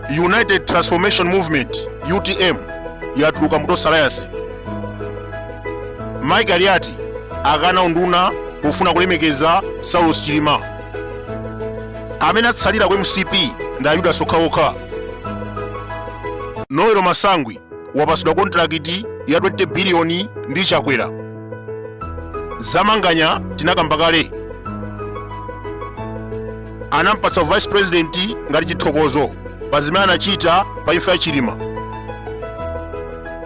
United Transformation Movement UTM yatuluka mu Tonse Alliance. Mike Aliati akana unduna pofuna kulemekeza Saulos Chilima. Amene atsalira ku MCP ndi Ayuda okhaokha. noel masangwi wapasidwa kontrakiti ya 20 biliyoni ndi chakwera zamanganya tinakamba kale anampatsa vice president ngati chithokozo pa zimene anachita pa imfa ya chilima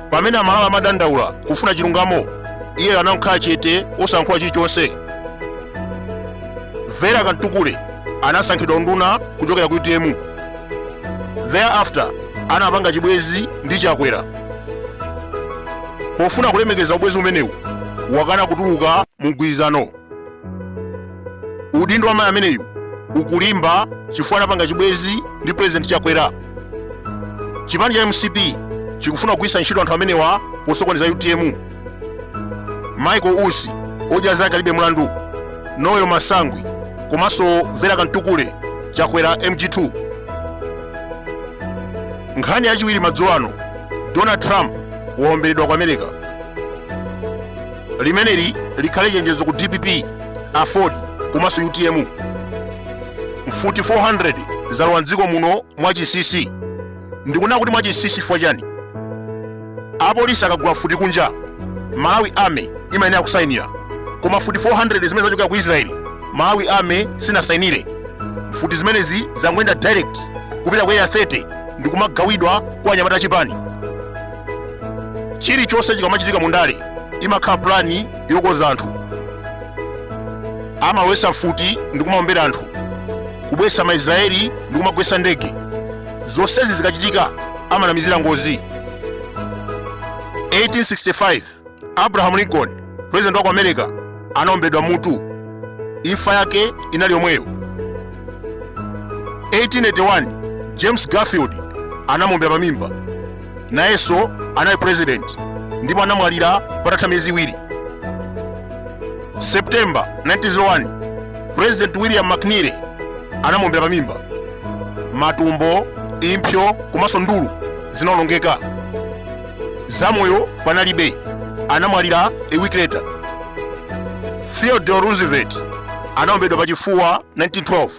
pamene amalawi amadandaula kufuna chilungamo iye anakhala chete osayankhula chilichonse vera kamtukule anasankhidwa unduna kuchokera ku utm thereafter anapanga chibwezi ndi chakwera pofuna kulemekeza ubwezi umenewu wakana kutuluka mu mgwirizano udindo wa mayi ameneyu ukulimba chifukwa anapanga chibwezi ndi president chakwera chipani cha mcp chikufuna kugwiritsa ntchito anthu amenewa posokoneza utm michael usi odya zake alibe mlandu noel masangwi komanso vera kamtukule chakwera mg2 nkhani yachiwiri madzulo ano donald trump waomberedwa ku america limeneli likhale chenjezo ku dpp aford komanso utm mfuti 400 zalowa mdziko muno mwachinsinsi ndikunena kuti mwachinsinsi chifukwa chani apolisi akagula mfuti kunja malawi army imayenera kusainira koma futi 400 zimene zachokera ku israeli malawi army sinasainire mfuti zimenezi zangoyenda direct kupita ku area 30 ndi kumagawidwa kwa anyamata achipani chilichonse chikamachitika mu ndale imakhala pulani yokoza anthu amalowesa mfuti ndi kumaombera anthu kubwesa maisraeli ndi kumagwesa ndege zonsezi zikachitika amanamizira ngozi 1865 abraham lincoln president wa ku america anaombedwa mmutu imfa yake inali yomweyo 1881 james garfield anamuombera pamimba nayenso anali president ndipo anamwalira patatha miyezi iwiri september 1901 president william mckinley anamuombera pamimba matumbo impsyo komanso ndulu zinaonongeka zamoyo panalibe anamwalira a week later theodore roosevelt anaombedwa pachifuwa 1912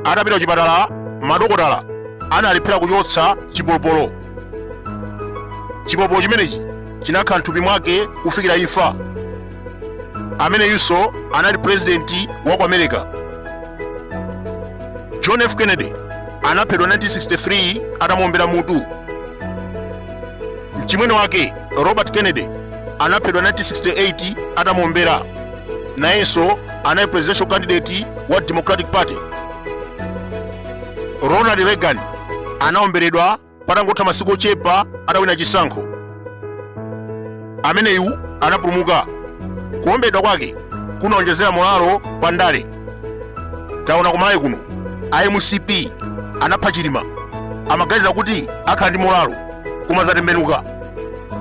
atapita kuchipatala madokotala analephera kuchotsa chipolopolo chipolopolo chimenechi chinakhala mthupi mwake kufikira imfa ameneyunso anali purezidenti wa ku america john f kennedy anaphedwa 1963 atamuombera mutu mchimwene wake robert kennedy anaphedwa 1968 atamuombera nayenso anali presidential candidate wa democratic party ronald reagan anaomberedwa patangotha masiku ochepa atawina chisankho ameneyu anapulumuka kuomberedwa kwake kunaonjezera molalo pa ndale taona kumalawi kuno a mcp anapha chilima amaganiza kuti akhala ndi molalo koma zatembenuka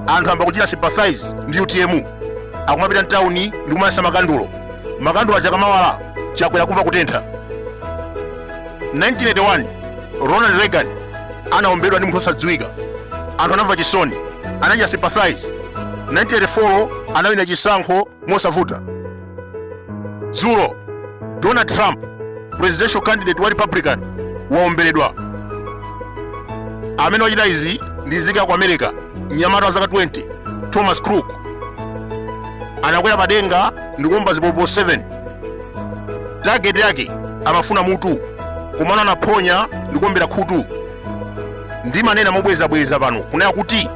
anthu amba kuchita sympathize ndi utm akumapita mtawuni ndi kumayasa makandulo makandulo aja kamawala chakwera kumva kutentha 1981 ronald reagan anaombedwa ndi munthu osadziwika anthu anamva chisoni anachita sympathize 1984 anawina chisankho mosavuta dzulo donald trump presidential candidate wa republican waomberedwa amene wachita izi ndi nzika ya ku america mnyamata wa zaka 20 thomas crook anakwera padenga ndi kuomba zipopo 7 target yake amafuna mutu komano anaphonya ndi kuombera khutu ndimanena mobwezabweza pano kunena kuti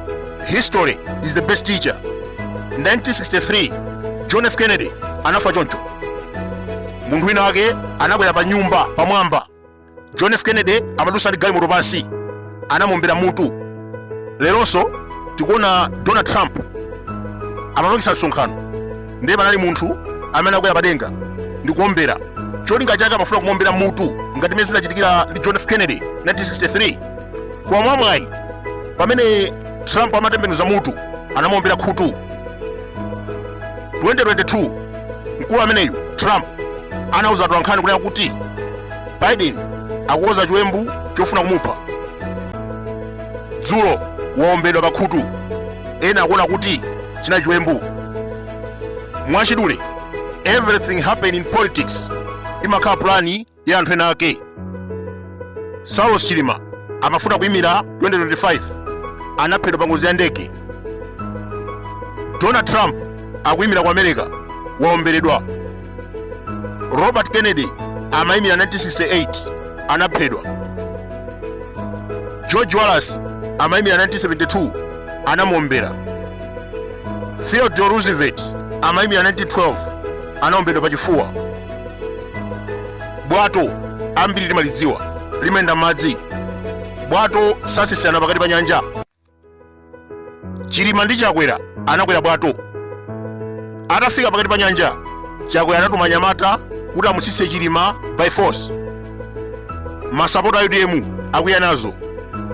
history is the best teacher 1963 john f kennedy anafa choncho munthu wina wake anakwera pa nyumba pamwamba john f kennedy amadusa ndi galimoto pansi anamuombera mutu leronso tikuona donald trump amapangisa msonkhano ndiye panali munthu amene anakwera padenga ndi kuombera cholinga chake amafuna kumuombera mutu ngati mmene zinachitikira ndi john f kennedy 1963 koma mwamwayi pamene trump amatembenuza mutu anamuombera khutu 2022 mkulu ameneyu trump anauza atolankhani kunena kuti biden akukonza chiwembu chofuna kumupha dzulo waombedwa pakhutu ena akuona kuti chinali chiwembu mwachidule everything happen in politics imakhala pulani ya anthu ena ake saulos chilima amafuna kuyimira 2025 anaphedwa pa ngozi ya ndege donald trump akuyimira ku america waomberedwa robert kennedy amayimira 1968 anaphedwa george wallace amayimira 1972 anamuombera theodore roosevelt amayimira 1912 anaombedwa pa chifuwa bwato ambiri timalidziwa limayenda mmadzi bwato satsitsana pakati pa nyanja chilima ndi chakwera anakwera bwato atafika pakati pa nyanja chakwera anatuma anyamata kuti amutsitse chilima by force masapota a utm akwiya nazo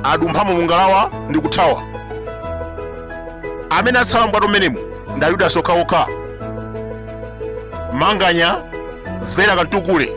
adumphamo mungalawa ndi kuthawa amene atsala mbwato mmenemu ndi ayudasi okhaokha manganya vera kamtukule